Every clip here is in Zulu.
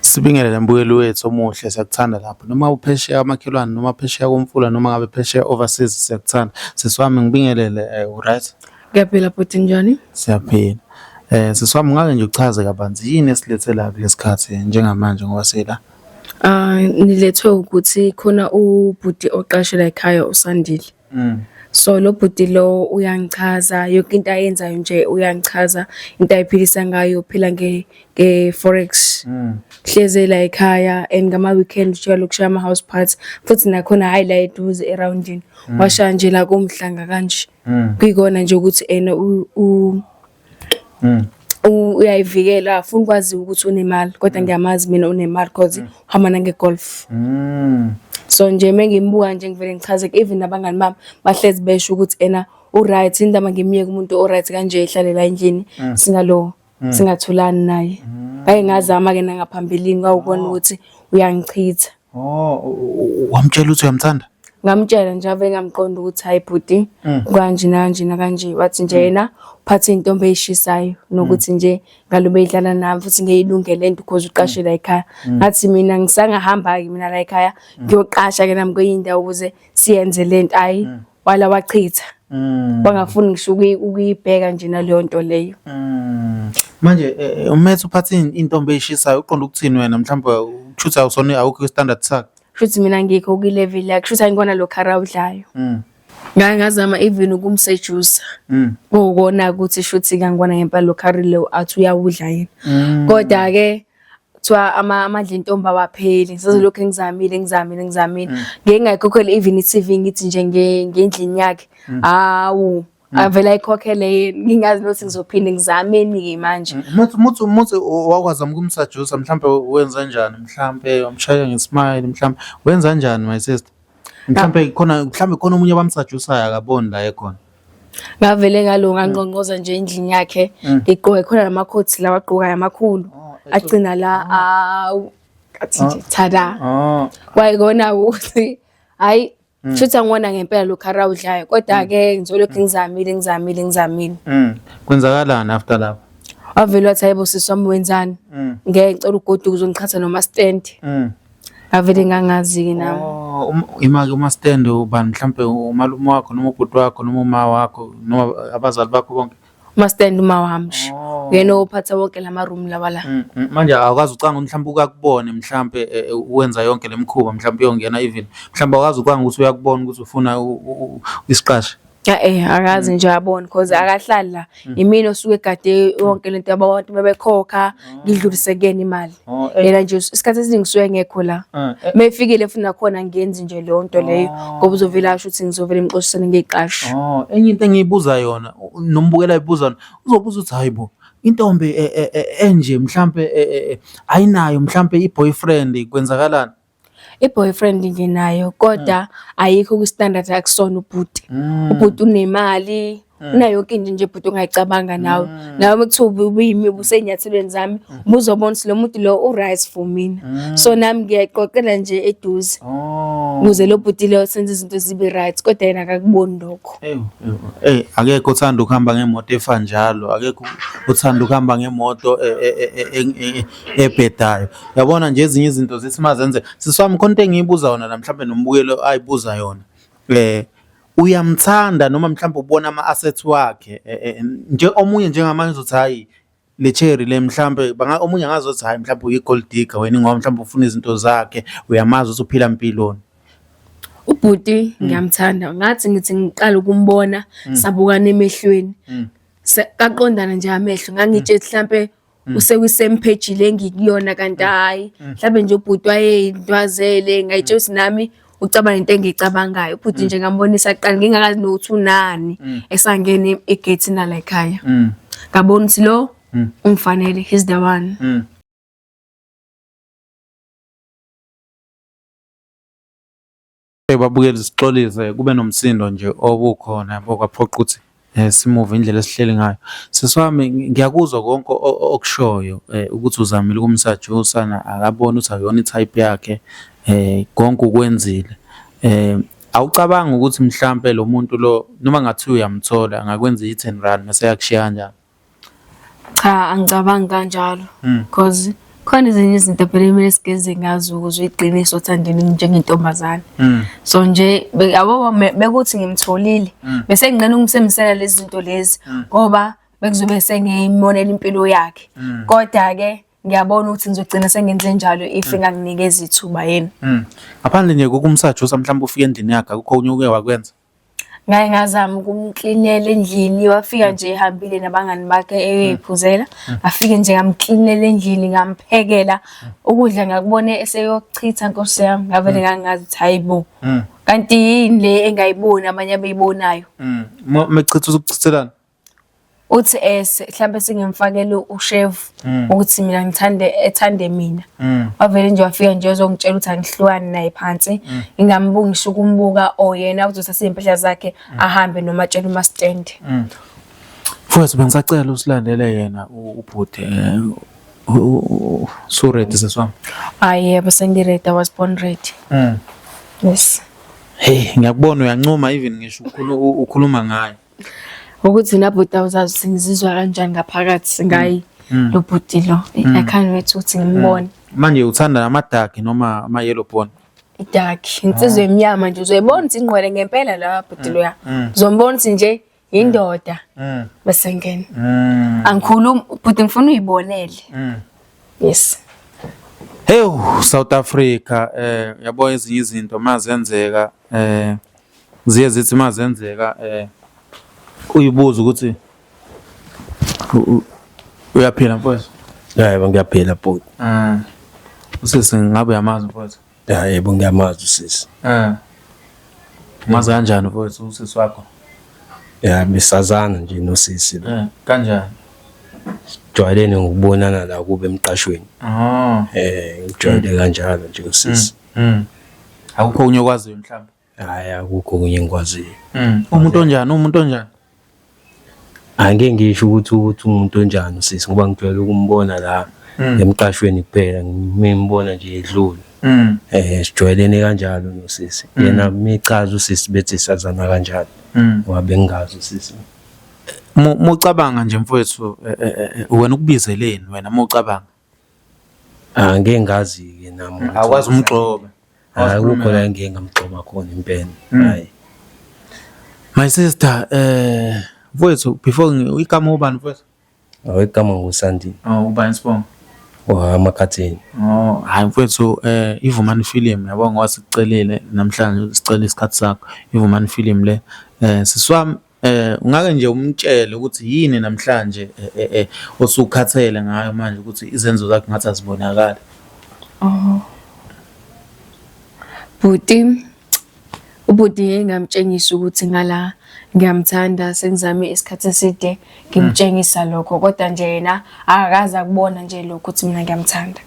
Sibingelele mbukeli wethu omuhle siyakuthanda lapho noma uphesheya amakhelwane noma phesheya komfula noma ngabe phesheya overseas siyakuthanda sisi wami ngibingelele eh, uright Ngiyaphila bhuti njani? siyaphila eh sisi wami ngake nje uchaze kabanzi yini esilethe la kulesikhathi njengamanje ngoba sila Ah nilethwe ukuthi khona ubhuti oqashe la ekhaya uSandile. Mm. so lo bhuti lo uyangichaza yonke into ayenzayo nje uyangichaza into ayiphilisa ngayo uphila nge nge forex mm. hleze la ekhaya and ngama weekend ushaya lokushaya ama house parts futhi nakhona hayi la eduze eroundini mm. washaya nje la kumhlanga kanje mm. kuyikona nje ukuthi ena u mm. uyayivikela afuna ukwazi ukuthi unemali kodwa mm. ngiyamazi mina unemali cause mm. uhamba nange-golf mm. so nje mengimbuka nje ngivele ngichazeke even abangani bami bahlezi besho ukuthi ena uright indaba ngimyeke umuntu oright kanje ihlalela endlini mm. singalowo mm. singathulani naye mm. ngake ngazama-ke nangaphambilini kwawukona oh. ukuthi uyangichitha Oh, u- u- u- wamtshela ukuthi uyamthanda? ngamtshela nje ave ngamqonda ukuthi hayi bhuti Mm. kanje nanje nakanje wathi nje yena uphathe intombi eyishisayo nokuthi Mm. nje ngalobe idlala nami futhi ngeyilungele into because uqashe la ekhaya Mm. ngathi mina ngisangahamba ke mina la ekhaya ngiyoqasha ke nami kwenye indawo ukuze siyenze lento ayi wala wachitha mm. wangafuni ngisho ukuyibheka nje naleyo nto leyo mm. manje eh, eh, umethe uphathe intombi eyishisayo uqonda ukuthini wena mhlawumbe kushuthi awusona awukho kwi-standard sakho kushuthi mina ngikho kwi-level yakhe kushuthi angikona lo khara udlayo mm. ngake ngazama even ukumsejusa mm. kuwukona ukuthi shuthi kangikona ngempela lo khari leyo athi uyawudla yena mm. kodwa-ke kuthiwa ama amandla entombi awapheli ngisazolokhu ngizamile ngizamile ngizamile mm. ngeke ngayikhokhela even i-CV ngithi nje ngendlini yakhe mm. hawu mm. avela ayikhokhele yini ngingazi nothi ngizophinde ngizameni-ke manje muthi muthi wakwazama ukumsajusa mhlawumbe wenza njani mhlawumbe wamshaya ngesmile mhlawumbe wenza njani my sister mhlawumbe khona mhlawumbe khona omunye abamsajusayo akaboni la ekhona ngavele ngalo ngangqongqoza nje endlini yakhe mm. ngigqoke khona lamakhothi lawa agqokayo amakhulu oh, agcina la ah. awu athi nje ah. thada ah. wayekona ukuthi hayi mm. shuthi angibona ngempela lokhu arawudlayo kodwa-ke mm. ngizolokhu ngizamile ngizamile ngizamile kwenzakalani after lapho wavele wathi hayibo sisi wami wenzani ngeke ngicela ugoduka uzongiqhatha noma stand avele ngangazi-ke nami Oh, um- ima-ke uma stand ubani mhlampe umalume wakho noma ubhuti wakho noma uma wakho noma abazali bakho bonke umastand uma wami nje Oh. uyena ophatha wonke la maroom lawa la Mm, mm, manje awukazi ucanga ukuthi mhlawumbe ukakubone mhlawumbe eh, eh, wenza yonke le mikhuba mhlawumbe uyongena even mhlawumbe awukazi ucanga ukuthi uyakubona ukuthi ufuna u- u- u- isiqashe Eh akazi mm. nje yabona because mm. akahlali la mm. imina osuke egade yonke lento yabantu bebekhokha oh. ngidlulise kuyena imali oh, eh. yena nje isikhathi esiningi suke ngekho la ah, eh. mefikile futhi nakhona ngenzi nje leyo nto leyo oh. ngoba uzovela asho ukuthi ngizovela imxoshisane ngeqasho oh enye into engiyibuza yona nombukela ibuza yona uzobuza ukuthi hayibo intombi e, e, e, enje mhlambe ayinayo mhlambe iboyfriend kwenzakalani i-boyfriend nginayo kodwa mm. ayikho kwi-standard akusona ubhuti mm. ubhuti unemali mm. unayo yonke into nje bhuti ongayicabanga nawe nawe kuthiwa ubuyimi ubusenyathelweni zami buzobona ukuthi lo muntu lo u-rise for mina so nami ngiyayiqoqela nje eduze oh. ukuze lo bhuti leyo senze izinto zibe right kodwa yena akakuboni lokho eyi akekho uthanda ukuhamba ngemoto efa njalo akekho uthanda ukuhamba ngemoto e, e, e, ebhedayo yabona nje ezinye izinto zithi mazenze siswami khona into engiyibuza yona la mhlawumbe nombukelo ayibuza yona eh uyamthanda noma mhlawumbe ubona ama-assets wakhe eh, eh, nje omunye njengamanje uzothi hhayi le cherry le mhlawumbe omunye angazothi hhayi mhlawumbe uyi-gold digger wena ngoba mhlawumbe ufuna izinto zakhe uyamazi ukuthi uphila mpiloni ubhuti hmm. ngiyamthanda ngathi ngithi ngiqala ukumbona hmm. sabukana emehlweni hmm. kaqondana nje amehlo ngangitshe mhlampe Mm. usekusame page le ngikuyona kanti mm. hayi mm. mhlawumbe nje ubhuti wayeyintwazele ngayitshela ukuthi nami ucabanga into engiyicabangayo ubhuti nje ngambonisa kuqala ngingakazi nokuthi unani esangene egate na la ekhaya ngabona ukuthi lo ungifanele he's the one Babukeli sixolise kube nomsindo nje obukhona yabo kwaphoqa ukuthi eh, simuve indlela esihleli ngayo. Sisi wami ngiyakuzwa konke okushoyo eh, ukuthi uzamile ukumsajusa na akaboni ukuthi akuyona i-type yakhe eh, konke ukwenzile. Eh, awucabangi ukuthi mhlampe lo muntu lo noma ngathiwa uyamthola angakwenza i-ten run mese eyakushiya kanjani? Cha angicabangi kanjalo hmm. because khona ezinye izinto phela kumele sigeze ngazo ukuze uyiqinise othandweni njengentombazane hmm. so nje yabo bekuthi ngimtholile hmm. bese nginqena ukumsemisela lezi zinto lezi ngoba bekuzobe sengiyimonela impilo yakhe kodwa ke ngiyabona ukuthi ngizogcina sengenze njalo if mm. nganginikeza ithuba yena mm. ngaphandle nje kokumsajusa mhlawumbe ufike endlini yakhe akukho okunye uke wakwenza ngaye ngazama ukumklinela endlini wafika nje ehambile nabangani bakhe eyoyiphuzela mm. mm. afike nje ngamklinela endlini ngamphekela mm. ukudla ngakubona eseyochitha nkosi yami ngavele ngangazi ukuthi hayibo kanti yini le engayiboni abanye abeyibonayo mechitha uzokuchithelana uthi eh mhlambe singimfakele ushevu hmm. ukuthi mina ngithande ethande mina hmm. wavele nje wafika nje uzongitshela ukuthi angihlukani naye phansi hmm. ngingambungisha ukumbuka oyena oh, uzothatha impahla zakhe ahambe noma tshela uma stand Mfowethu bengisacela usilandele yena ubhuti eh, so ready seswami hayi yebo sengiready i was born ready yes hey ngiyakubona uyancoma even ngisho ukhuluma ngayo ukuthi nabhuti awuzazi ukuthi ngizizwa kanjani ngaphakathi ngayi Mm. lo bhuti lo i Mm. can't wait ukuthi ngimbone manje uthanda amadaki noma ama-yellow bone idark insizwa emnyama nje uzoyibona ukuthi ingqwele ngempela la bhuti loya Mm. uzombona ukuthi nje yindoda Mm, bese ngena mm, angikhulumi bhuti ngifuna uyibonele mm. yes hewu south africa um yabo ezinye izinto mazenzeka um Ziye zithi uma zenzeka um uyibuze ukuthi uyaphila mfowethu ya yebo ngiyaphila bhuti um usisi ngabe uyamazi mfowethu ya yebo ngiyamazi usisi um umazi kanjani mfowethu usisi wakho ya besazana nje nosisi um kanjani sijwayelene ngokubonana la kube emqashweni um ngijwayele kanjalo nje usisi mm. Mm. Akukho okunye okwaziyo mhlawumbe. Hayi akukho okunye engikwaziyo. Mm. Umuntu onjani? Umuntu onjani? Angeke ngisho ukuthi ukuthi umuntu onjani sisi ngoba ngijwayele ukumbona la mm. emqashweni kuphela ngimbona nje edlule. Mm. Eh sijwayelene kanjalo nosisi. Mm. Yena michaza usisi bethi sazana kanjalo. Mm. Ngoba bengazi usisi. Mucabanga nje mfowethu eh, eh, eh, wena ukubizeleni wena mucabanga Ah, ngeke ngazi-ke nami ukuthi- Awukwazi umgxoba. Hhayi, Awukwazi akukho la ngike ngamgxoba khona impela hhayi My sister, eh mfowethu before ngi- igama ubani mfowethu? awegama ngusandile Oh ubani sibongo? wamakhathini Oh hayi mfowethu eh ivumani film yabo ngoba sikucelile namhlanje sicela isikhathi sakho. Ivumani film le eh siswami Eh ungake nje umtshele ukuthi yini namhlanje eh, eh, eh, osukhathele ngayo manje ukuthi izenzo zakhe ngathi azibonakali. Oh. Bhuti ubhuti ngeke ngamtshengisa ukuthi ngala ngiyamthanda sengizame isikhathi eside ngimtshengisa lokho kodwa nje yena akakaze akubona nje lokho ukuthi mina ngiyamthanda.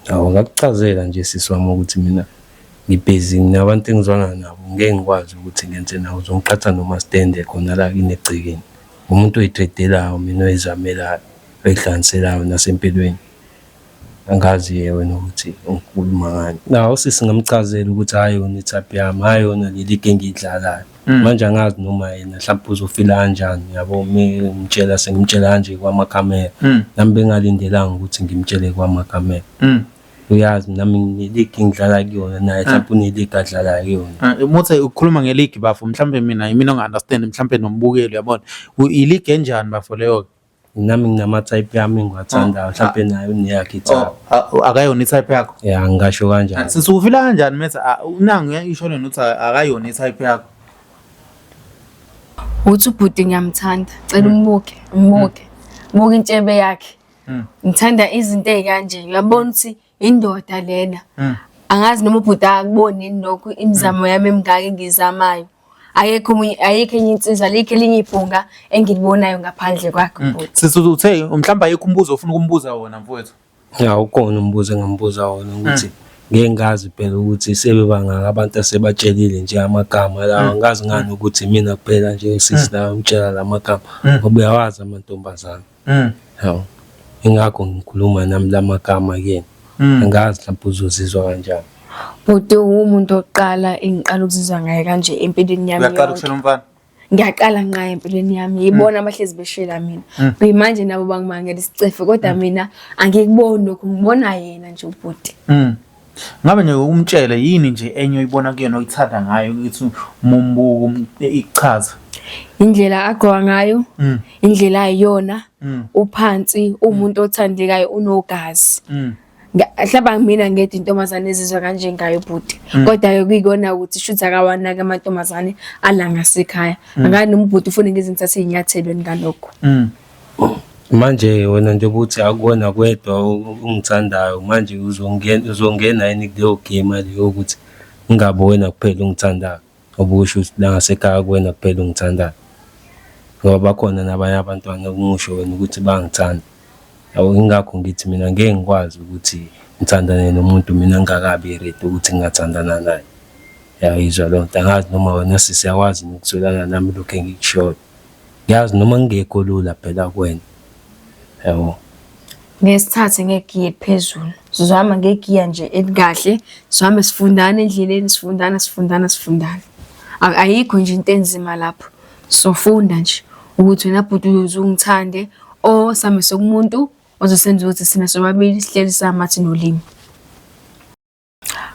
Awu ngakuchazela nje sisi wami ukuthi mina ngibhizi nginabantu engizwana nabo ngeke ngikwazi ukuthi ngenze nawo zongiqhatha noma stende khona la kini egcekeni umuntu oyitredelayo mina oyizamelayo oyihlangiselayo nasempilweni angazi yewe nokuthi ungikhuluma ngani nawo sisi ngamchazela ukuthi hayi yona i-type yami hayi yona leli ke engiyidlalayo Mm. manje angazi noma yena mhlawumbe uzofila kanjani yabo ngimtshela sengimtshela kanje kwamakamera mm. nami bengalindelanga ukuthi ngimtshele kwamakamera mm. uyazi nami ngeligi ngidlala kuyona naye mhlawumbe uneligi adlala kuyona umuthi ah, ukhuluma ngeligi bafo mhlawumbe mina yimina onga-understand mhlawumbe nombukeli uyabona iligi enjani bafo leyo-ke Nami nginama-type yami engiwathandayo, mhlampe naye uneyakhe i-type. Oh, a- akayona i-type yakho Ya, ngingasho kanjalo. sisi ufila kanjani methi "Ah, nangu isho lena ukuthi a- akayona i-type yakho uthi ubhuti ngiyamthanda cela umbuke umbuke buka intshebe yakhe Mm. ngithanda izinto ey'kanje uyabona ukuthi indoda lena mm. angazi noma ubhuti akuboni nokho imizamo yami emingaka engizamayo ayekho omunye ayikho enye insizwa likho elinye ibhunga engilibonayo ngaphandle kwakhe mm. bhuti sisi uthe mhlawumbe ayikho umbuzo ofuna ukumbuza wona mfowethu ya ukona umbuzo engambuza wona ukuthi mm. ngeke ngazi phela ukuthi sebebangaka abantu asebatshelile nje amagama lawa mm. ngazi ngani ukuthi mina kuphela nje sisi lawa ngitshela la magama ngoba uyawazi amantombazane Mm. Hawu. Ingakho ngikhuluma nami lamagama kuyena. Mm. Angazi mhlawumbe uzozizwa kanjani. Bhuti uwumuntu oqala engiqala ukuzizwa ngaye kanje empilweni yami. Uyaqala ukushela umfana? ngiyaqala nqaye empilweni yami yibona mm. abahlezi beshela mina mm. kuyimanje nabo bangimangela isicefe kodwa mm. mina angikuboni lokhu ngibona yena nje ubhuti Ngabe nje ukumtshela yini nje enye oyibona kuyena oyithanda ngayo ukuthi mumbuku ichaza. Indlela agqoka ngayo, mm. indlela ayiyona, mm. uphansi, umuntu mm. othandekayo unogazi. Hlaba mina ngedi intombazane ezizwa kanje ngayo bhuti. Kodwa ke kuyikona ukuthi shuthi akawanaki amantombazane alanga sekhaya. Ngani umbhuti ufuna ngizinthathe izinyathelo ngalokho. Manje wena njengoba uthi akuwona kwedwa ongithandayo manje uzongena uzongena yini kuleyo game leyo ukuthi kungabi wena kuphela ongithandayo ngoba usho ukuthi la ngasekhaya kuwena kuphela ongithandayo ngoba bakhona nabanye abantwana okungisho wena ukuthi bangithanda yabo ingakho ngithi mina ngeke ngikwazi ukuthi ngithandane nomuntu mina ngingakabi ready ukuthi ngingathandana naye yayizwa loo nto angazi noma wena sisi yakwazi nokutholana nami lokhu engikushoyo Yazi noma ngingekho lula phela kuwena. Yabo. Ngeke sithathe ngegiya eliphezulu. Sizohamba ngegiya nje elikahle, sihambe sifundana endleleni, sifundana, sifundana, sifundana. A- Ayikho nje into enzima lapho. Sofunda nje ukuthi wena bhuti uyoze ungithande or same sokumuntu ozosenza ukuthi sina sobabili sihleli samathi nolimi.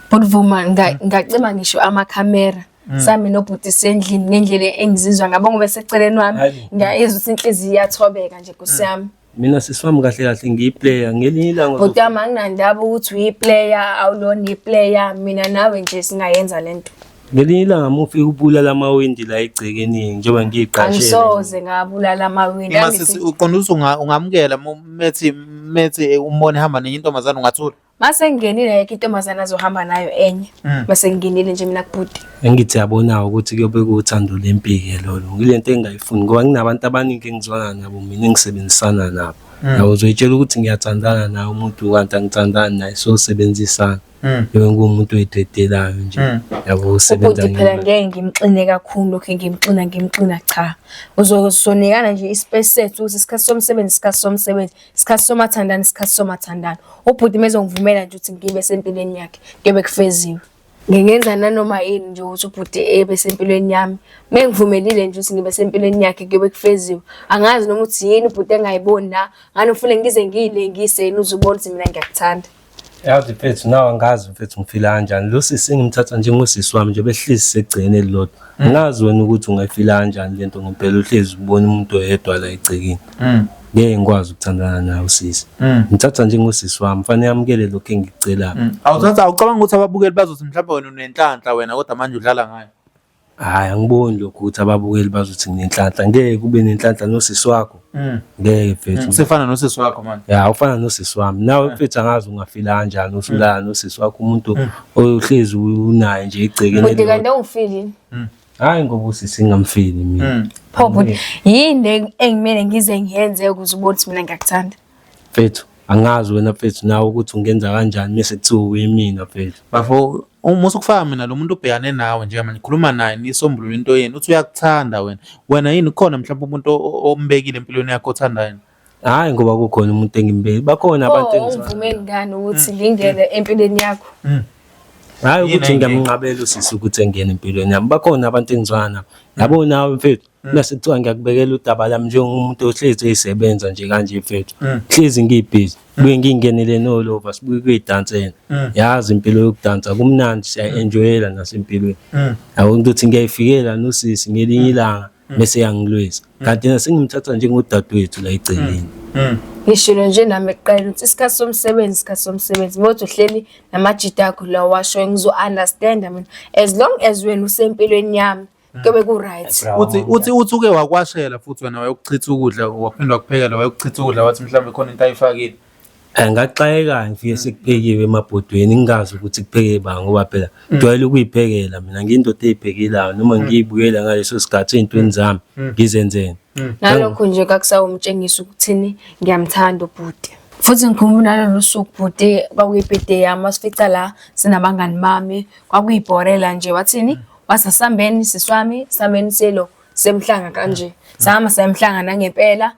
Bhutuvuma ngacima ngisho amakhamera Mm. sami nobhuti sendlini ngendlela engizizwa ngabo ngoba seceleni wami ngiyayizwa ukuthi inhliziyo iyathobeka nje kusiyami mm. mina sisi wami kahle kahle ngiyiplayer ngelinye ilanga bhuti wami anginandaba ukuthi uyiplayer awulona iplayer mina nawe nje singayenza le nto ngelinye ilanga mufike ubulala amawindi la egcekeni njengoba ngiyiqashele angisoze ngabulala amawindi masisi uqonda ukuthi ungamukela methi methi umbone hamba nenye intombazane ungathula Mase ngingenile yake intombazana azohamba nayo enye. Mm. Mase ngingenile nje mina kubhuti. Engithi yabona ukuthi kuyobe kuthando lempike lolo. Ngilento engayifuni ngoba nginabantu abaningi engizwana nabo mina engisebenzisana nabo. Mm. Yabo uzoyitshela ukuthi ngiyathandana naye umuntu kanti angithandani naye so sebenzisana. Mm. Yebo ngumuntu oyidedelayo nje. Yabo usebenza ngeke. Phela ngeke ngimxine kakhulu lokho ngimxina ngimxina cha. Uzosonekana nje ispace sethu ukuthi isikhathi somsebenzi isikhathi somsebenzi. Isikhathi somathandana, isikhathi somathandana. Ubhuti mezongivumela nje ukuthi ngibe sempilweni yakhe, kuyobe kufeziwe. Ngingenza nanoma yini nje ukuthi ubhuti ebe sempilweni yami. Mengivumelile nje ukuthi ngibe sempilweni yakhe kuyobe kufeziwe. Angazi noma ukuthi yini ubhuti engayiboni la, ngani ufune ngize ngiyilengise yini uze ubone ukuthi mina ngiyakuthanda. Yazi mfethu nawe angazi mfethu ngifila kanjani. Lo sisi ngimthatha njengosisi wami nje behlezi segcene elilodwa. Mm. Ngazi wena ukuthi ungayifila kanjani lento ngempela uhlezi ubona umuntu oyedwa la egcekeni. Mm. Ngeke ngikwazi ukuthandana nawe sisi. Mm. Ngithatha njengosisi wami, fanele amukele lokho engikucelayo. Awuthatha awucabanga ukuthi ababukeli bazothi mhlawumbe wena unenhlanhla wena kodwa manje udlala ngayo. Hhayi angiboni lokho ukuthi ababukeli bazothi nginenhlanhla ngeke kube nenhlanhla nosisi wakho mm. ngeke mfethu mm. sefana nosisi wakho manje ya ufana nosisi wami nawe mm. mfethu angazi ungafila kanjani usulala nosisi wakho umuntu ohlezi unaye nje igcekeni kodwa kanti awufili hayi ngoba usisi ngamfili mina pho bhuti yini engimele ngize ngiyenze ukuze ubone ukuthi mina ngiyakuthanda mfethu angazi wena mfethu nawe ukuthi ungenza kanjani mese kuthiwa uyimina mfethu bafo Uma usukufaka mina lo muntu ubhekane nawe njengamanje nikhuluma naye nisombulule into yenu uthi uyakuthanda wena. Wena yini ukhona mhlawumbe umuntu o- o- ombekile empilweni yakho othanda yena? Hhayi ngoba kukhona umuntu engimbeki. Bakhona abantu Oh, engizohamba. ungivumeli ngani ukuthi ngingene empilweni yakho? Hhayi Yini ukuthi engeke? ngiyamnqabela usisi ukuthi engene empilweni yami. Bakhona abantu engizwana nabo. Yabo nawe mfethu. Mm. mase kuthiwa ngiyakubekela udaba lami njengomuntu ohlezi eyisebenza nje kanje mfethu mm. hlezi ngiyibhizi mm. buye ngingenele nolova sibuye kuyidansela yazi impilo yokudansa kumnandi siya-enjoyela nasempilweni yabona ukuthi ngiyayifikela nosisi ngelinye ilanga bese yangilwisa kanti nasengimthatha njengodadewethu la egceleni ngishilo nje nami ekuqala ukuthi isikhathi somsebenzi isikhathi somsebenzi ngothi uhleli namajita akho la washo ngizo-understanda mina as long as wena usempilweni yami kuyobe ku-right uthi uthi uthi uke wakwashela futhi wena wayokuchitha ukudla waphinde wakuphekela wayokuchitha ukudla wathi mhlawumbe khona into ayifakile Eh, ngaxakeka ngifike sekuphekiwe emabhodweni ngingazi ukuthi kupheke ba ngoba phela ngijwayele ukuyiphekela mina ngiyindoda eyiphekelayo noma ngiyibukela ngaleso sikhathi ey'ntweni zami ngizenzeni ngalokho nje kakusawumtshengisa ukuthini ngiyamthanda ubhuti futhi ngikhumbula nalolu suku bhuti kwakuyibhede yami wasifica la sinabangani bami kwakuyibhorela nje wathini Wasa sambeni siswami sambeni selo semhlanga kanje. Sahamba sayamhlanga nangempela.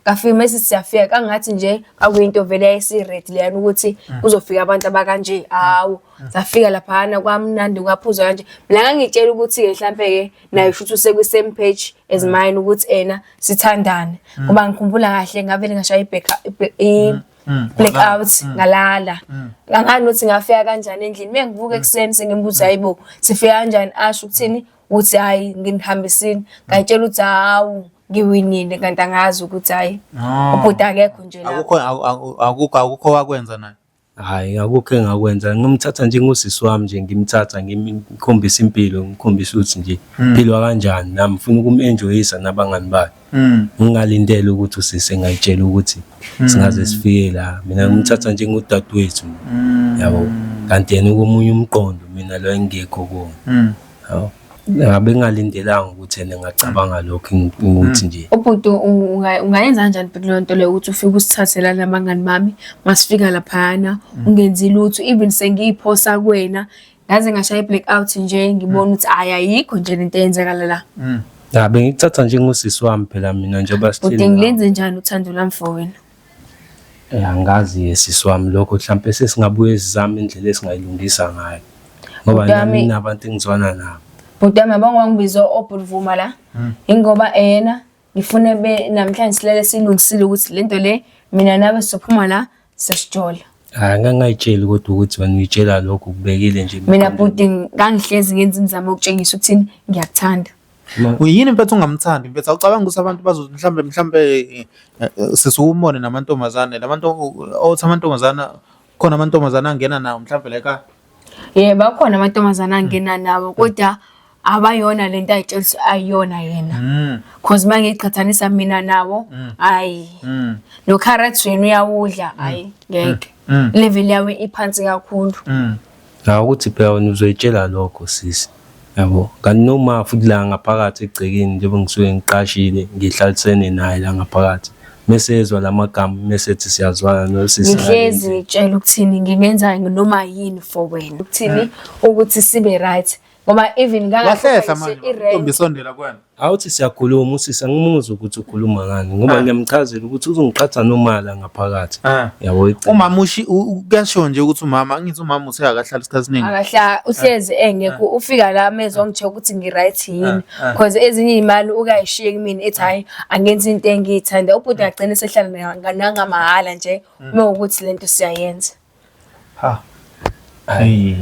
Kafika mase siyafika kangathi nje akuyinto vele yayisired leyana ukuthi kuzofika abantu abakanje. Hawu. Safika laphana kwamnandi kwaphuza kanje. Mina ngangitshela ukuthi ke mhlambe ke naye futhi usekwi same page as mine ukuthi ena sithandane. Ngoba ngikhumbula kahle ngavele ngashaya ibheka i Mm, blackout mm. ngalala mm. ngangani ukuthi ngafika kanjani endlini mengivuka ekuseni sengimbuza hayibo sifika kanjani asho ukuthini uthi hayi nginihambisini ngayitshela ukuthi hawu ngiwinile kanti angazi ukuthi hayi ah. ubhuti akekho nje la akukho akukho akukho wakwenza naye hayi akukho engakwenza ngimthatha nje ngosisi wami nje ngimthatha ngimkhombisa impilo ngimkhombisa ukuthi nje philwa kanjani nami ngifuna ukum-enjoyisa nabangani bakhe Mm. ngingalindele ukuthi usisi engayitshela ukuthi mm. singaze sifike la mina ngimthatha mm. njengudadewethu yabo kanti yena komunye umqondo mina lo engekho kuwona yabo ngabe ngingalindelanga ukuthi yena ngacabanga lokho ukuthi nje ubhuti ungayenza kanjani bhuti leyo nto leyo ukuthi ufike usithathela nabangani bami masifika laphayana ungenzi lutho even sengiyiphosa kwena Ngaze ngashaya i-black out nje ngibona ukuthi hhayi ayikho nje lento eyenzakala la. Mm. Ya bengikuthatha njengosisi wami phela mina njengoba sithini. Ude ngilenze njani uthando lami for wena? Eh angazi yesisi wami lokho mhlampe sesingabuye sizame indlela esingayilungisa ngayo. Ngoba nami nabantu engizwana nabo. Bhuti yami abangiwangibiza obhulivuma la. Hmm. Ingoba ena ngifune be namhlanje silele silungisile ukuthi lento le mina nawe sizophuma la sesijola hayi ngangayitsheli kodwa ukuthi wena uyitshela lokho kubekile nje mina bhuti ngangihlezi ngenza imizamo yokutshengisa ukuthini ngiyakuthanda uyini mfethu ungamthandi mfethu awucabanga ukuthi abantu bazothi mhlawumbe mhlawumbe eh, eh, sesiwumone namantombazane labantu othi amantombazana khona amantombazane angena nawo mhlawumbe la ekhaya ye bakhona amantombazane angena nawo kodwa abayona le nto ayitshelisa ayiyona yena Mm, cause uma ngiqhathanisa mina nawo Mm. hayi mm, nocarrot wena uyawudla hayi ngeke mm, level yawo iphansi kakhulu mm. Ngicabanga ukuthi phela wena uzoyitshela lokho sisi. Yabo, kanti noma futhi la ngaphakathi egcekeni njengoba ngisuke ngiqashile ngihlalisene naye la ngaphakathi. Mese ezwa la magama mese ethi siyazwana nosisi. Ngihlezi ngitshela ukuthini ngingenzani noma yini for wena. Ukuthini ukuthi sibe right. ngoba even wahlehla manje intombi isondela kwena awuthi siyakhuluma usisi angimuzwa ukuthi ukhuluma ngani ngoba ah. ngiyamchazela ukuthi uzongiqhatha nomala ngaphakathi ah. yabo umama ushi kuyasho nje ukuthi umama angithi umama uthe akahlala isikhathi esiningi akahla uhlezi ah. engekho ufika la mezwa ngithe ukuthi ngi right yini because ezinye imali ukayishiye kimi ethi hayi angenzi into engiyithanda ubhuti agcine sehlala nanga mahhala nje uma mm. ukuthi lento siyayenza Ha. Hayi.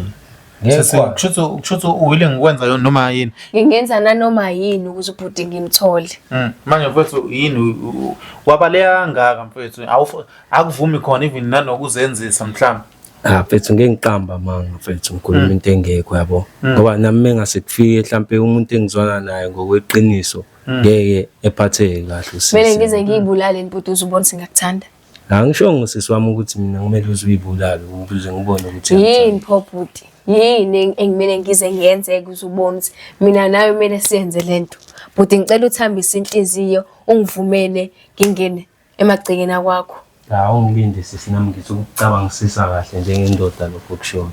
Ngeke kusho ukuthi uwile ngikwenza yona noma yini. Ngingenza nanoma yini ukuze ubhuti ngimthole. Mm. Manje mfethu yini wabaleka kangaka mfethu akuvumi khona even nanokuzenzisa mhlawumbe. Ah mfethu ngeke ngiqamba manga mfethu ngikhuluma mm. into engekho yabo. Mm. Ngoba nami mengase kufike mhlambe umuntu engizwana naye ngokweqiniso mm. ngeke ephatheke kahle usisi. Mina ngize ngiyibulale inpuduzo ubona singakuthanda. Angishongo sisi wami ukuthi mina kumele uze uyibulale ukuze ngibone ukuthi yini pho bhuti yini engimele ngize ngiyenze ukuze ubone ukuthi mina nawe kumele siyenze lento bhuti ngicela uthambise inhliziyo ungivumele ngingene emagcekeni akwakho hawu ngilinde sisi nami ngithi ukucabangisisa kahle njengendoda lokho kushoyo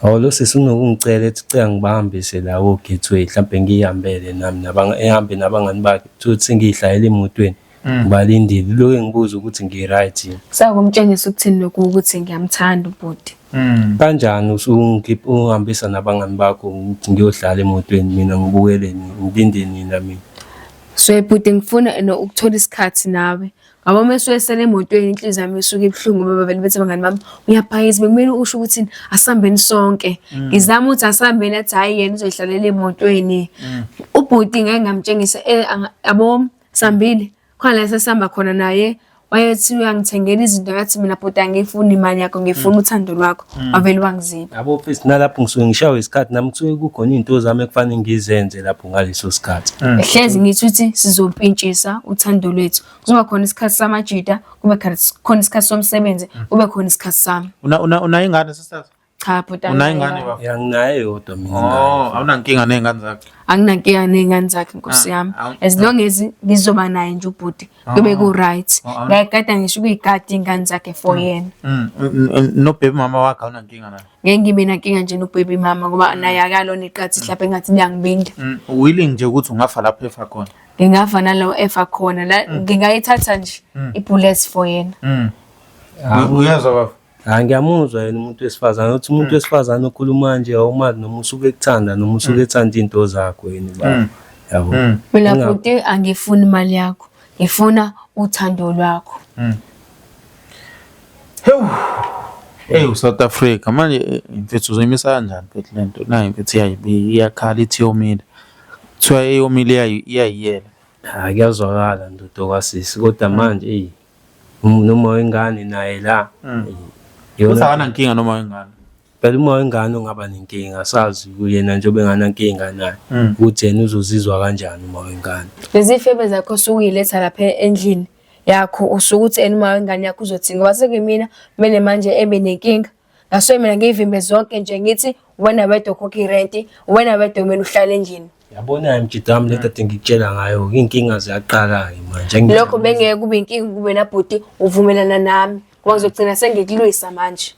hawu lo sisi unokungicela ethi cela ngibahambise la wo-gateway mhlawumbe ngiyihambele nami ehambe nabangani bakhe kuthiwa ukuthi sengiyihlayela emotweni ngibalindile loke ngibuza ukuthi ngi-right yini sakumtshengisa ukuthini lokhu ukuthi ngiyamthanda ubhuti hmm. kanjani usungihambisa nabangani bakho ngiyohlala emotweni mina ngibukele ngilinde nina mina so bhuti ngifuna ukuthola isikhathi nawe ngoba uma esuwesele emotweni inhliziyo yami isuke ibuhlungu ngoba bavele bethi abangani bami uyaphakisa bekumele usho ukuthi asihambeni sonke mm. ngizama ukuthi asihambeni athi hhayi yena uzoyihlalela emotweni mm. ubhuti ngeke ngamtshengisa eh, yabo Sambile khona la sesihamba khona naye wayethi uyangithengela izinto yathi mina bhuti angiyifuni imali yakho ngifuna uthando lwakho wavele wangiziba yabo mfethu nalapho ngisuke ngishawe isikhathi nami kusuke kukhona izinto zami ekufanele ngizenze lapho ngaleso sikhathi hlezi ngithi ukuthi sizompintshisa uthando lwethu kuzoba khona isikhathi samajita kube khona- khona isikhathi somsebenzi kube khona isikhathi sami Una- una- unayo ingane sisasa Cha bhuti Unayingane anginayo. bafo? Yanginayo yodwa mina. Oh, awunankinga nezingane zakhe. Anginankinga ney'ngane zakhe nkosi Ah, yami. awu- As long as ngizoba naye nje ubhuti kube ku-right. Ah, ah. Ngayigada ngisho ukuyigada iy'ngane zakhe for yena. Mm, mm, mm, no baby mama wakhe awunankinga naye. Ngeke ngibe nankinga nje nobhebi mama ngoba naye akalona iqathi mhlawumbe engathi liyangibinda. Mm, willing nje ukuthi ungafa lapho efa khona. Ngingava nalowo efa khona. la- Ngingayithatha nje i-bullets for yena. Mm. Uyezwa bafo? Hayi ngiyamuzwa yena umuntu wesifazane uthi umuntu wesifazane okhuluma nje awumazi noma usuke ekuthanda noma usuke ethanda into zakho yini baba yabo Mina Unga- bhuti angifuni imali yakho. Ngifuna uthando lwakho. Hewu. Hey uSouth Africa manje eh, mfethu uzoyimisa kanjani mfethu lento nayi mfethu iyayibi- iyakhala ithi yomile kuthiwa eyomile iyayi- iyayiyela hayi kuyazwakala ndoda kwasisi kodwa manje eyi Um- noma wengane naye la Mm. Uthi yona akanankinga noma wengane. phela uma wengane ungaba nenkinga sazi kuyena njengoba enganankinga naye Mm. ukuthi yena uzozizwa kanjani uma wengane lezifebe zakho sukuyiletha lapha endlini yakho usuke uthi ena uma wengane yakho uzothini ngoba sekuyimina kumele manje ebe nenkinga Ngasuke mina ngiyivimbe zonke nje ngithi wena wedwa okhokha irenti, wena wedwa kumele uhlale endlini. Yabona mjidami le kade ngikutshela ngayo inkinga ziyaqala-ke manje. Angi- Lokho bengeke kube inkinga kuwena bhuti uvumelana nami ngoba ngizogcina sengikulwisa manje.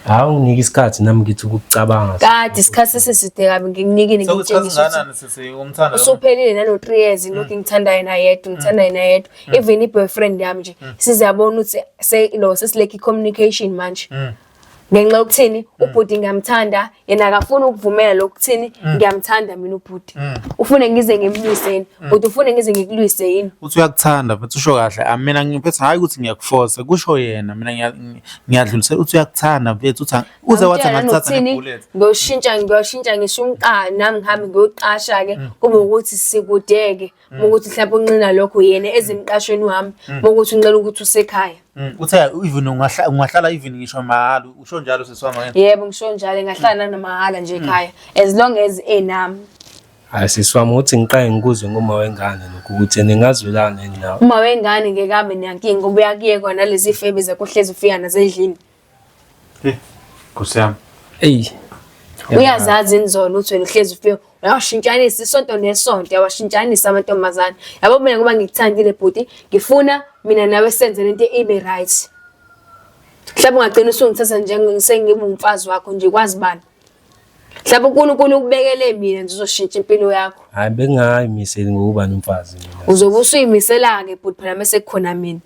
Hawu unginike isikhathi nami ngithi ukucabanga. Kade isikhathi seside kabi ngikunikile Sekusikhathi ngikutshengisa ukuthi singakanani sisi umthanda lo muntu? usuphelile nalo three years lokhu ngithanda yena yedwa ngithanda yena yedwa mm. even i-boyfriend yami nje mm. siziyabona ukuthi se no sesilekhi communication manje mm. ngenxa yokuthini mm. ubhuti ngiyamthanda yena akafuni ukuvumela lokuthini mm. ngiyamthanda mina ubhuti mm. ufune ngize ngimlwise yini bhuti ufune ngize ngikulwise yini uthi uyakuthanda futhi usho kahle ah, mina ngiphethe hhayi ukuthi ngiyakufosa kusho yena mina ngiyadlulisela uthi uyakuthanda mfethu uthi uze wathi angakuthatha ngebullet ngiyoshintsha ngiyoshintsha ngisho umqala nami ngihambe ngiyoqasha-ke kube ukuthi sikudeke Mm. ukuthi mhlawumbe unqina lokho yena ezimqashweni wami mm. ukuthi unqina ukuthi usekhaya mm. uthe even ungahlala even ngisho mahhala usho njalo seswami wena yebo ngisho njalo ngahlala namahhala nje ekhaya as long as enami hayi siswami uthi ngiqaye ngikuzwe ngoma wengane lokhu ukuthi ningazwelana nawe uma wengane ngeke abe nankinga ubuya kuye kona lezi febe zakuhlezi ufika nasendlini Nkosi yami. Eyi. Uyazazi inzondo ukuthi wena uhlezi ufike uyawashintshanisa isonto nesonto uyawashintshanisa amantombazane. Yabo mina ngoba ngikuthandile bhuti ngifuna mina nawe senze lento ibe right. Mhlawumbe ungagcina usungithatha njengisengibe umfazi wakho nje kwazi bani. Mhlawumbe uNkulunkulu ukubekele mina nje uzoshintsha impilo yakho. Hayi bengayimiseli ngokuba nomfazi mina. Uzobe usuyimisela-ke bhuti phela mese kukhona mina.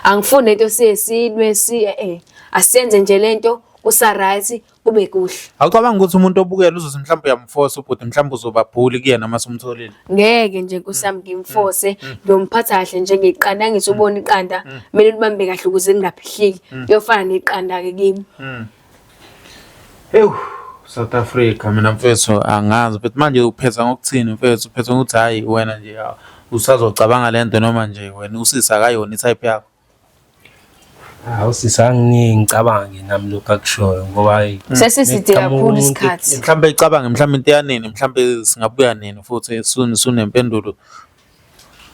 Angifuni lento siye silwe si eh, eh asiyenze nje lento kusa right kube kuhle. Awucabanga ukuthi umuntu obukela uzothi mhlawumbe uyamforce ubhuti mhlawumbe uzoba bully kuyena uma sumtholile. Ngeke nje kusami mm. ngimforce mm. ngiyomphatha kahle njengeqanda angisubona iqanda mm. kumele libambe kahle ukuze lingaphihliki. Kuyofana neqanda ke kimi. Ewu South Africa mina mfethu angazi but manje uphetha ngokuthini mfethu uphetha ngokuthi hhayi wena nje usazocabanga le nto noma nje wena usisi akayona i-type yakho hawu sisi anginingi ngicabange nami lokhu akushoyo ngoba hhayi sesiside kakhulu isikhathi mhlawumbe icabange mhlawumbe into yanini mhlawumbe singabuya nini futhi sunempendulo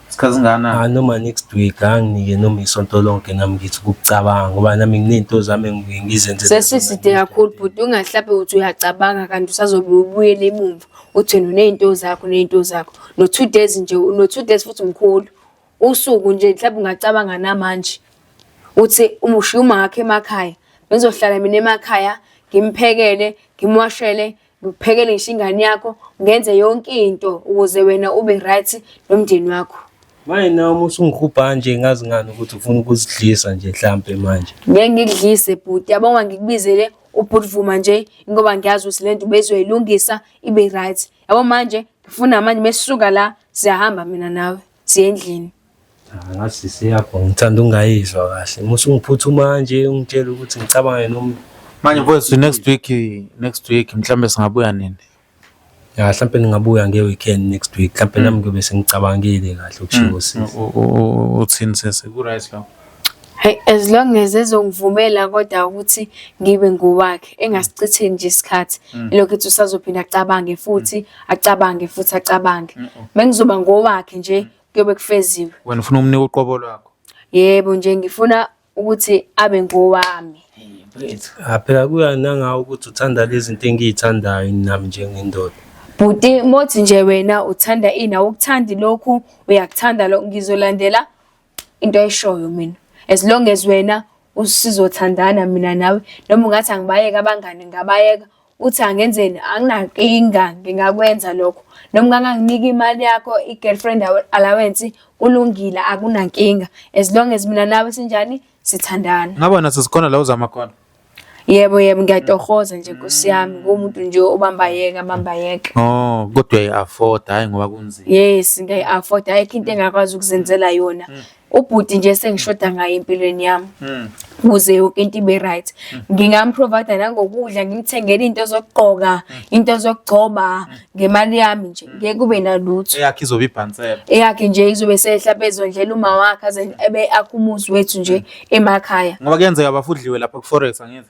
Isikhathi singana? Ah, noma next week anginike noma isonto lonke nami ngithi ukucabanga ngoba nami nginezinto zami engibuye ngizenze. Sesiside kakhulu bhuti ungahlabe uthi uyacabanga kanti usazobe ubuyele emumva uthi wena unezinto zakho unezinto zakho no two days nje no two days futhi mkhulu usuku nje mhlawumbe ungacabanga namanje uthi umushiya umakhe emakhaya bengizohlala mina emakhaya ngimphekele ngimwashele ngiphekele ngisho ingane yakho ngenze yonke into ukuze wena ube right nomndeni wakho manje nawe uma usungihubha nje ngazi ngani ukuthi ufuna ukuzidlisa nje mhlampe manje ngeke ngikudlise bhuti yabonga ngikubizele ubhuti vuma nje ngoba ngiyazi ukuthi lento bezoyilungisa ibe right yabo manje ngifuna manje mesisuka la siyahamba mina nawe siye endlini Ah, ngathi sisi yakho ngithanda ungayizwa kahle musa ungiphuthu manje ungitshela ukuthi ngicabange noma manje mfowethu next week next week mhlawumbe singabuya nini ya mhlawumbe ningabuya nge-weekend next week mhlawumbe nami ngiyobe sengicabangile kahle ukushiwo sisi uthini sesi ku-right lapho Hey, as long as ezongivumela kodwa ukuthi ngibe ngowakhe engasichitheni nje isikhathi lokho ethi usazophinda acabange futhi acabange futhi acabange mengizoba ngowakhe nje kuyobe kufeziwe. Wena ufuna umnika uqobo lwakho? Yebo nje ngifuna ukuthi abe ngowami. Mfethu. Ah, phela kuya nangawe ukuthi uthanda lezi zinto engiyithandayo nami njengendoda. Bhuti mothi nje wena uthanda ini awukuthandi lokhu uyakuthanda lokhu ngizolandela into eshoyo mina. As long as wena usizothandana mina nawe noma ungathi angibayeka abangani ngabayeka uthi angenzeni anginankinga ngingakwenza lokho noma unganganginika imali yakho i-girlfriend allowance kulungile akunankinga as long as mina nawe sinjani sithandana ngaba naso sikhona la uzama khona yebo yebo ngiyatohoza nje nkosi yami ngumuntu nje obamba yeka bamba yeka oh kodwa i-afford hayi ngoba kunzima yes ngiyi-afford ayikho into engakwazi ukuzenzela yona mm. ubhuti nje sengishoda ngaye empilweni yami hmm. kuze yonke into ibe right hmm. ngingamprovide nangokudla ngimthengele into zokugqoka hmm. into zokugcoba ngemali yami nje ngeke kube nalutho eyakhe izobe ibhansela eyakhe nje izobe sehla bezondlela uma wakhe aze ebe akhumuzi wethu nje emakhaya ngoba kuyenzeka bafudliwe lapha ku forex angithi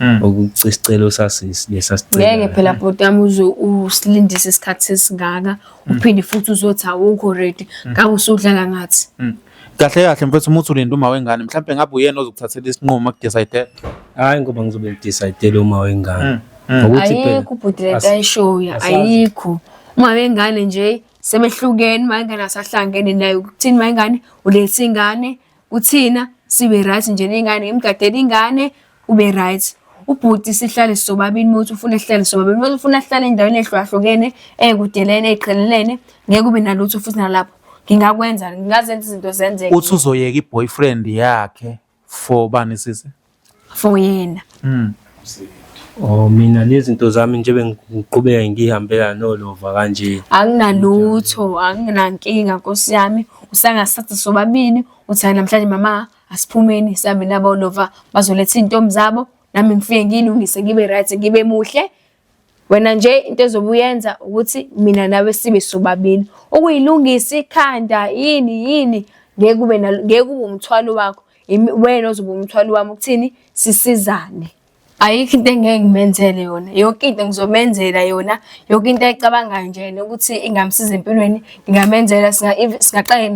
Mm. ukuthi sicela usasisi lesasicela ngeke phela bhuti yami uze usilindise isikhathi sesingaka mm. uphinde futhi uzothi awukho ready mm. ngakho usudlala ngathi kahle kahle mfethu umuthi ulinde uma wengane mhlawumbe ngabe uyena ozokuthathela isinqumo akudecide hayi ngoba ngizobe ngidecide uma wengane ngokuthi phela ayikho ubhuti lento ayishoyo ayikho uma wengane nje sebehlukene uma ingane asahlangene naye ukuthini uma ingane ulethe ingane Uthina sibe right nje nengane imgadela ingane ube right ubhuti sihlale sobabili muthi ufuna sihlale sobabili muthi ufuna sihlale endaweni ehlukahlukene ekudelene eqhelelene ngeke ube nalutho futhi nalapho ngingakwenza ngingazenza izinto zenzeke uthi uzoyeka iboyfriend yakhe for bani sisi for yena Mm. Oh mina nezinto zami nje bengiqhubeka ngihambela nolova kanje. anginalutho anginankinga nkosi yami usangasatha sobabili uthi hayi namhlanje mama asiphumeni sihambe nabo lova bazoletha iy'ntombi zabo nami ngifike ngiyilungise ngibe right ngibe muhle Wena nje into ezobe uyenza ukuthi mina nawe sibe sobabili. Ukuyilungisa ikhanda yini yini ngeke kube ngeke kube umthwalo wakho. Wena ozobe umthwalo wami ukuthini sisizane. Ayikho into engeke ngimenzele yona. Yonke into ngizomenzela yona. Yonke into ayicabangayo nje yena ukuthi ingamsiza empilweni ngingamenzela singa singaqale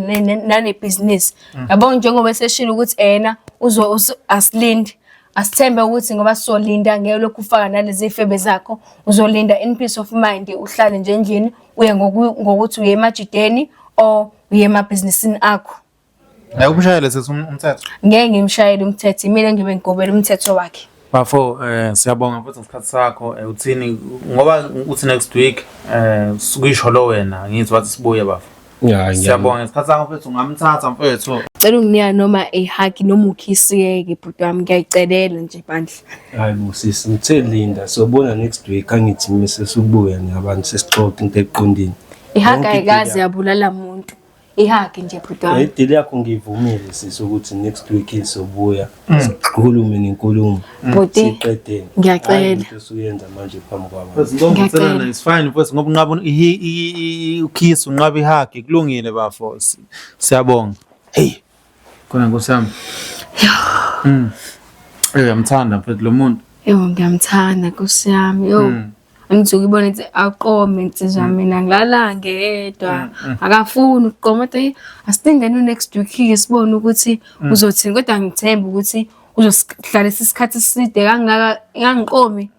nane business. Mm. Yabo njengoba eseshilo ukuthi ena uzo asilindi. Asithembe ukuthi ngoba sizolinda ngeke lokhu ufaka nalezi febe zakho uzolinda in peace of mind uhlale nje endlini uye ngokuthi uye emajideni or uye emabhizinisini akho. Hayi umshayele sethi um-, umthetho. Ngeke ngimshayele umthetho imina ngibe ngigobela umthetho wakhe. Bafo eh siyabonga futhi ngesikhathi sakho eh, uthini ngoba uthi next week eh sikuyisho lo wena ngithi wathi sibuye bafo. Ya, Siyabonga ngesikhathi sakho mfethu ungamthatha mfethu. Cela unginika noma a hug noma ukhisieke bhuti wami ngiyayicelela nje bandla. Hayi bo sisi ngithe linda sobona next week angithi mise subuya nabantu sesixoxa into eqondini. I hug ayikaze yabulala muntu. I hug nje bhuti wami. Idili yakho ngivumile sisi ukuthi next week izobuya. sikhulume nenkulumo Bhuti, siqedeni ngiyacela. Hhayi into osuyenza manje phambi kwabo Mfethu, ngoba Ngiyacela. umthelana is fine mfethu ngoba unqaba un- i- i- i- i- ukiss unqaba ihagi kulungile bafo Si- siyabonga hey khona nkosi yami Mm. Eh, uyamthanda mfethu lo muntu Ewu ngiyamthanda Nkosi yami. Yo. Mm. angisuke ibona ukuthi aqome insizwa mm. mina ngilala ngedwa mm, mm. akafuni ukuqoma kodwa asithengeni next week ke sibone ukuthi uzothini kodwa ngithemba ukuthi uzohlalisa isikhathi eside kangaka ngangiqomi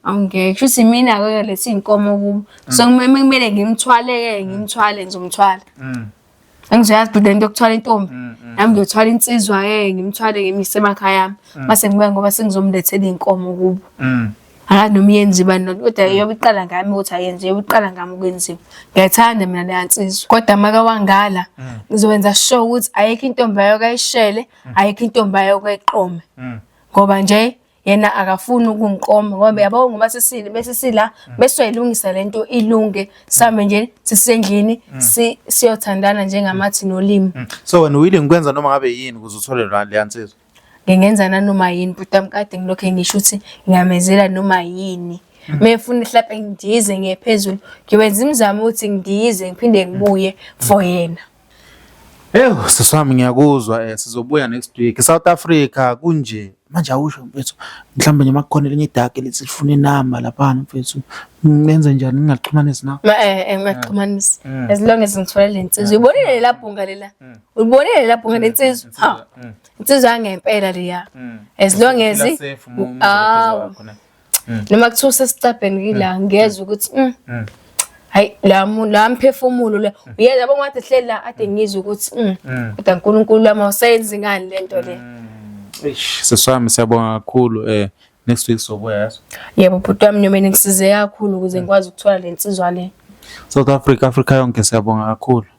awungeke kushuthi mina ke lethi inkomo kubo so kumele ngimthwaleke ngimthwale ngizomthwala Angizoyazi bhuti lento yokuthwala intombi. Mm, mm. Nami ngiyothwala insizwa ke ngimthwale ngimise emakhaya yami. Mm. Mase ngibuya ngoba sengizomlethela inkomo kubo. Mhm. Akazi noma iyenza ibani lento kodwa iyobe iqala ngami ukuthi ayenze iyobe iqala ngami ukwenziwa. Ngiyayithanda mina leya nsizwa. Kodwa maka wangala ngizokwenza sure ukuthi ayikho intombi ayokayishele, ayikho intombi ayokayiqome. Mhm. Ngoba nje yena akafuni ukungiqoma ngoba yabo ngoba sisile besisila mm. besoyilungisa lento ilunge sambe nje sisendlini mm. si siyothandana njengamathi mm. nolimi so wena willing ukwenza noma ngabe yini ukuze uthole lwa le ansizwa ngingenza nanoma yini bhuti amkade ngilokho ngisho ukuthi ngiyamezela noma yini mefuna ihlape ngidize ngiye phezulu ngiwenza imizamo ukuthi ngidize ngiphinde ngibuye for yena Ewu sisi wami ngiyakuzwa eh sizobuya next week. South Africa kunje. Manje awusho mfethu mhlawumbe nje makukhona elinye idark elithi lifuna inamba lapha mfethu. Ngenze njani ngingaxhumanisi na? Ma eh, eh ngingaxhumanisi. Mm. As long as ngithola le nsizwa. Mm. Uyibonile mm. la bhunga lela. Uyibonile la bhunga lensizwa. Ha. Insizwa yangempela leya. As long as ah mm. noma kuthiwa usesicabheni kila mm. ngezwe ukuthi mm. mm. hayi la la mphefumulo la mm. uyeza bonke wathi hleli la ade mm. ngizwe ukuthi mm. mm. kodwa uNkulunkulu wami awusayenzi ngani lento le mm. eish seswami siyabonga kakhulu eh next week sobuya yaso yebo bhuti wami noma ngisize kakhulu ukuze ngikwazi ukuthola lensizwa le South Africa Africa yonke siyabonga kakhulu